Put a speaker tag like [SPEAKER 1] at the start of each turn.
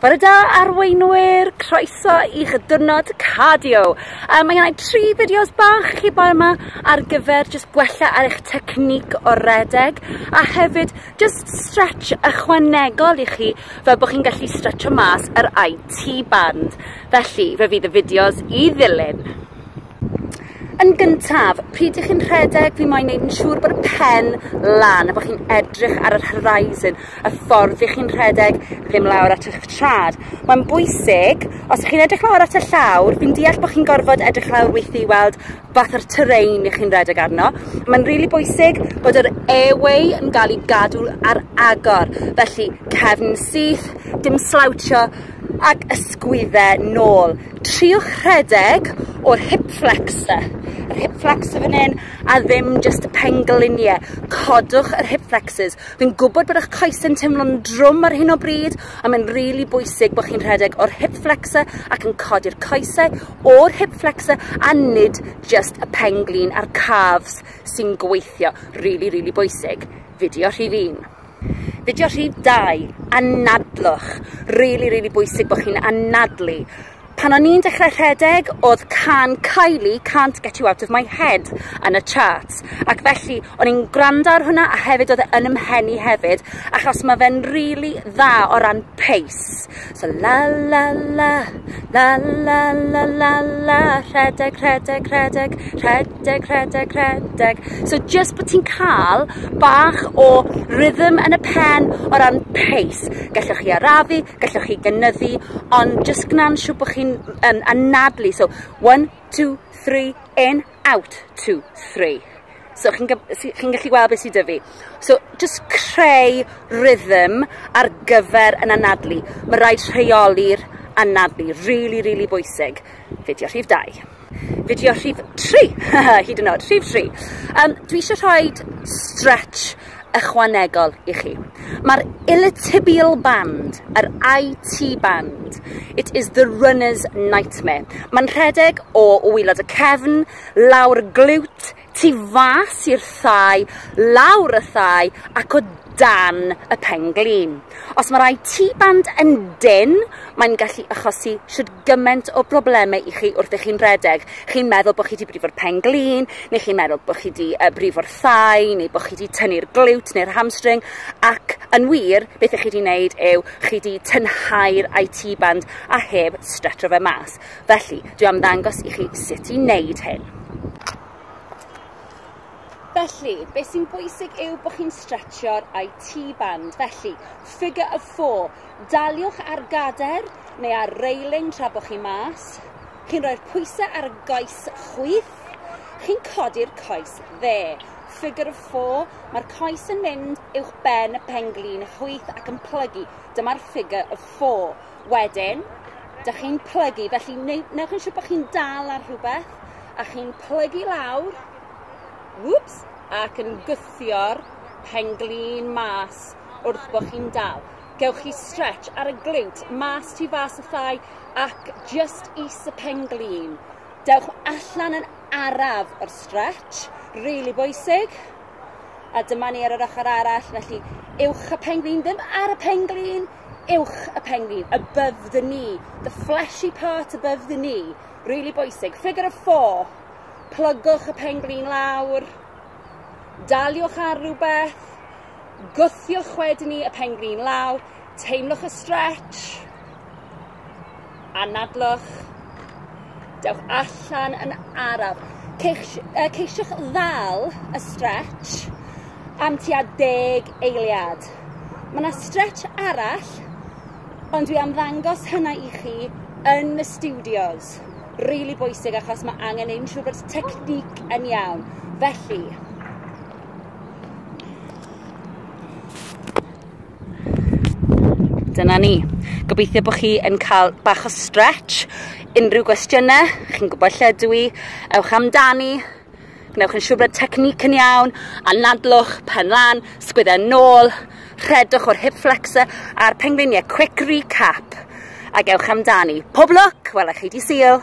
[SPEAKER 1] Bore da arweinwyr, croeso i'ch diwrnod cardio. Um, mae yna tri fideos bach chi boi yma ar gyfer just gwella ar eich technic o redeg a hefyd just stretch ychwanegol i chi fel bod chi'n gallu stretcho mas yr IT band. Felly, fe fydd y fideos i ddilyn. Yn gyntaf, pryd ych chi'n rhedeg, fi moyn neud yn siŵr bod y pen lan a bod chi'n edrych ar yr horizon, y ffordd fi chi'n rhedeg, ddim lawr at eich trad. Mae'n bwysig, os chi'n edrych lawr at y llawr, fi'n deall bod chi'n gorfod edrych lawr weithio i weld fath o'r terrain ych chi'n rhedeg arno. Mae'n rili really bwysig bod yr airway yn cael ei gadw ar agor, felly cefn syth, dim slawtio ac ysgwyddau nôl. Triwch rhedeg o'r hip flexor, yr hip flexor fan hyn, a ddim just y pengliniau. Codwch yr hip flexors. Fi'n gwybod bod eich coes yn teimlo'n drwm ar hyn o bryd, a mae'n rili really bwysig bod chi'n rhedeg o'r hip flexor ac yn codi'r coesau o'r hip flexor a nid just y penglin a'r calves sy'n gweithio. Rili, really, rili really bwysig. Fideo rhif un. Fideo rhy dau, anadlwch. Rili, rili bwysig bod chi'n anadlu. Pan o'n i'n dechrau rhedeg, oedd can Kylie, Can't Get You Out of My Head, yn y charts. Ac felly, o'n i'n gwrando ar hwnna, a hefyd oedd e yn ymhen i hefyd, achos mae fe'n rili dda o ran pace. So la la la, la la la la la, rhedeg, rhedeg, rhedeg, rhedeg, rhedeg, rhedeg. So just bod ti'n cael bach o rhythm yn y pen o ran pace. Gallwch chi arafu, gallwch chi gynyddu, ond just gwna'n siw bod chi'n um, anadlu. So one, two, three, in, out, two, three. So chi'n chi gallu gweld beth sydd dy fi. So just creu rhythm ar gyfer yn anadlu. Mae rhaid rheoli'r anadlu, really, really bwysig. Fideo rhif 2. Fideo rhif 3, hyd yn oed, rhif 3. Um, dwi eisiau rhoi stretch ychwanegol i chi. Mae'r illytibial band, yr IT band, it is the runner's nightmare. Mae'n rhedeg o wylod y cefn, lawr glwt, tu fas i'r thai, lawr y thai ac o dan y pen glin. Os mae'r IT band yn dyn, mae'n gallu achosi siwt gymaint o broblemau i chi wrth i chi'n rhedeg. Chi'n meddwl bod chi wedi brifo'r pen glin, neu chi'n meddwl bod chi wedi uh, brifo'r thai, neu bod chi wedi tynnu'r glwt neu'r hamstring, ac yn wir, beth ych chi wedi wneud yw chi wedi tynhau'r IT band a heb stretro fe mas. Felly, dwi am ddangos i chi sut i wneud hyn. Felly, beth sy'n bwysig yw bod chi'n stretchio'r IT band. Felly, figure of four. Daliwch ar gadair neu ar reiling tra bod chi mas. Chi'n rhoi'r pwysau ar y goes chwith. Chi'n codi'r coes dde. Figure of four, mae'r coes yn mynd uwch ben y penglin chwith ac yn plygu. Dyma'r figure of four. Wedyn, da chi'n plygu, felly newch yn siŵr bod chi'n dal ar rhywbeth a chi'n plygu lawr, whoops, ac yn gwthio'r penglin mas. wrth bod chi'n dal. Gewch chi stretch ar y glute, mas tu fas y thai ac just is y pen glin. Dewch allan yn araf o'r stretch, rili really bwysig. A dyma ni ar yr ochr arall, felly uwch y pen glin, ddim ar y pen glin, uwch y pen glin, above the knee, the fleshy part above the knee, really bwysig. Figure of four, plygwch y pen glin lawr, daliwch ar rhywbeth, Gwthiwch wedyn ni y pen grin law, teimlwch y stretch, anadlwch, dewch allan yn araf. Ceis, uh, ceisiwch ddal y stretch am tua deg eiliad. Mae yna stretch arall, ond dwi am ddangos hynna i chi yn y studios. Really bwysig achos mae angen ein siŵr bod technique yn iawn. Felly, Dyna ni. Gobeithio bod chi yn cael bach o stretch. Unrhyw gwestiynau, chi'n gwybod lle dwi, i, ewch amdani, gwnewch yn siŵr bod technique yn iawn, a nadlwch, pen lan, sgwyddau nôl, rhedwch o'r hip flexor a'r pengliniau. Quick recap, a gewch amdani. Pob lwc, welai chi di syl.